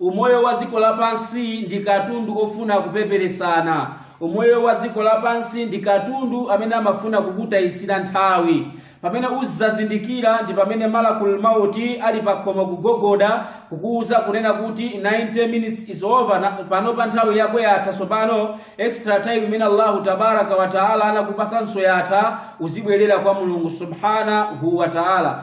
Umoyo wa dziko lapansi ndi katundu ofuna kupeperesana. Umoyo wa dziko lapansi ndi katundu amene amafuna kukutayitsira nthawi. Pamene uzazindikira ndi pamene Malakul Maut ali pakhomo kugogoda kukuuza kunena kuti 90 minutes is over, panopa nthawi yako yatha tsopano, extra time imene Allahu tabaraka wa taala anakupasanso yatha, uzibwerera kwa Mulungu subhanahu wa taala.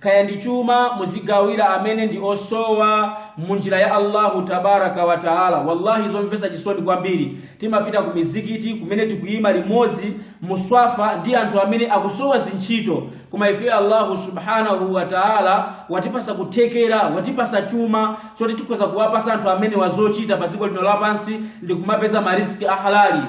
kaya ndi chuma muzigawira amene ndi osowa mu njira ya allahu tabaraka wa taala wallahi zomvetsa chisoni kwambiri timapita ku mizikiti kumene tikuyima limodzi muswafa ndi anthu amene akusowa zintchito koma ife allahu subhanahu wa taala watipasa kuthekera watipasa chuma choti tikhoza kuwapasa anthu amenewa zochita pa dziko lino lapansi ndi kumapeza mariziki ahalali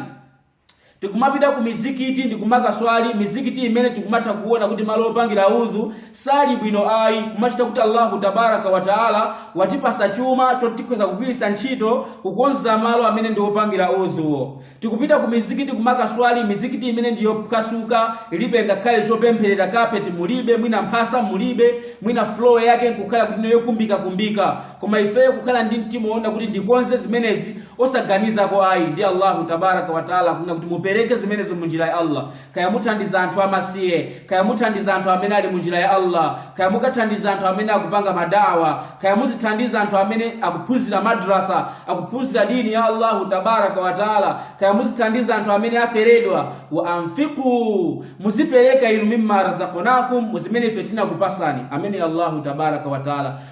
tikumapita ku mizikiti ndi kumakaswali mizikiti imene tikumatha kuona kuti malo opangira udhu sali bwino ayi kumachita kuti allahu tabaraka wataala watipasa chuma choti tikhoza kugwiritsa ntchito kukonza malo amene ndi opangira udhu tikupita ku mizikiti kumakaswali mizikiti imene ndi yophwasuka ilibe ngakhale chopempherera kapeti mulibe mwina mphasa mulibe mwina floor yake nkukhala kuti niyo yokumbikakumbika koma ifeyo kukhala ndi mtima woona kuti ndikonze zimenezi osaganizako ayi ndiye allahu tabaraka wataala kunena kuti mupereke zimenezo mu njira ya allah kaya muthandiza anthu amasiye kaya muthandiza anthu amene ali mu njira ya allah kaya mukathandiza anthu amene akupanga madawa kaya muzithandiza anthu amene akuphunzira madrasa akuphunzira dini ya allahu tabaraka wataala kaya muzithandiza anthu amene aferedwa wa anfiqu muzipereka inu mimma razaqnakum muzimene ife tinakupasani amene allahu tabaraka wataala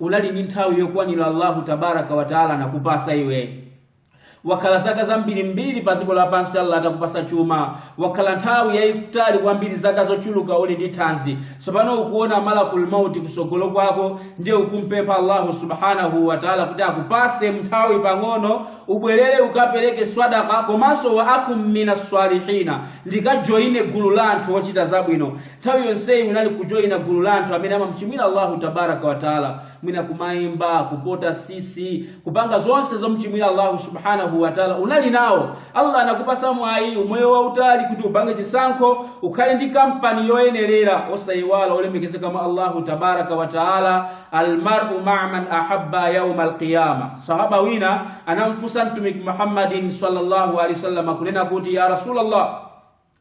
unali ndi nthawi yokwanira allahu tabaraka wataala anakupasa iwe wakhala zaka zambirimbiri pa dziko lapansi allah atakupasa chuma wakhala nthawi yayitali kwambiri zaka zochuluka uli ndi thanzi tsopano ukuona malakul mauti kusogolo kwako ndiye ukumpempha allahu subhanahu wataala kuti akupase nthawi pang'ono ubwerere ukapereke swadaka komanso wa akun mina salihina ndikajoyine gulu la anthu ochita zabwino nthawi yonseyi unali kujoyina gulu la anthu amene amamchimwira Allahu tabaraka wataala mwina kumayimba kupota sisi kupanga zonse zomchimwira Allahu subhanahu wataala unali nawo Allah anakupasa mwayi umoyo wautali kuti upange chisankho ukhale ndi kampani yoyenerera osayiwala olemekezeka mwa Allahu tabaraka wataala almaru maa man ahabba yauma alqiyama sahaba wina anamfunsa mtumiki Muhammadin sallallahu alaihi wasallam kunena kuti ya rasulallah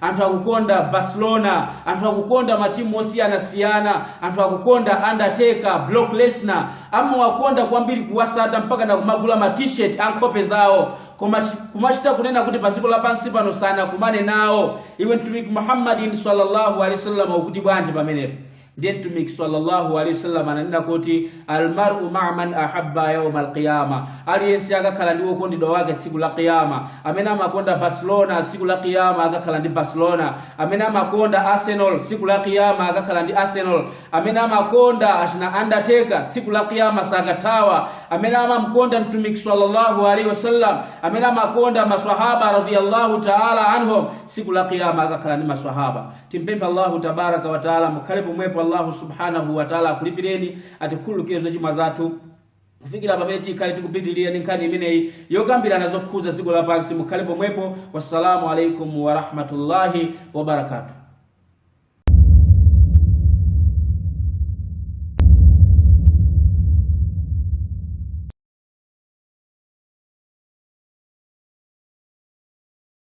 anthu akukonda barcelona anthu akukonda matimu osiyanasiyana anthu akukonda undertaker brock lesnar amawakonda kwambiri kuwasata mpaka na kumagula ma t-shirt a nkhope zawo kumachita kunena kuti padziko lapansi pano sanakumane nawo iwe mtumiki muhammadin sallallahu alaihi wasallam ukuti bwanji pamenepo ndiye mtumiki sallallahu alaihi wasallam ananena kuti almaru maa man ahabba yauma alqiyama aliyense akakhala ndi wokondedwa wake tsiku la qiyama amene amakonda barcelona tsiku la qiyama akakhala ndi barcelona amene amakonda arsenal tsiku la qiyama akakhala ndi arsenal amene amakonda achina undertaker tsiku la qiyama sakathawa amene amamkonda mtumiki sallallahu alaihi wasallam amene amakonda maswahaba radhiyallahu taala anhum tsiku la qiyama akakhala ndi maswahaba Timpempha Allahu tabaraka wa taala mukhale pomwepo Allahu subhanahu wa taala akulipireni atikhululukire zochimwa zathu kufikira pamene tikhale tikupitirira ndi nkhani imeneyi yokambirana zokhuza dziko lapansi mukhale pomwepo wassalamu alaikum warahmatullahi wabarakatuh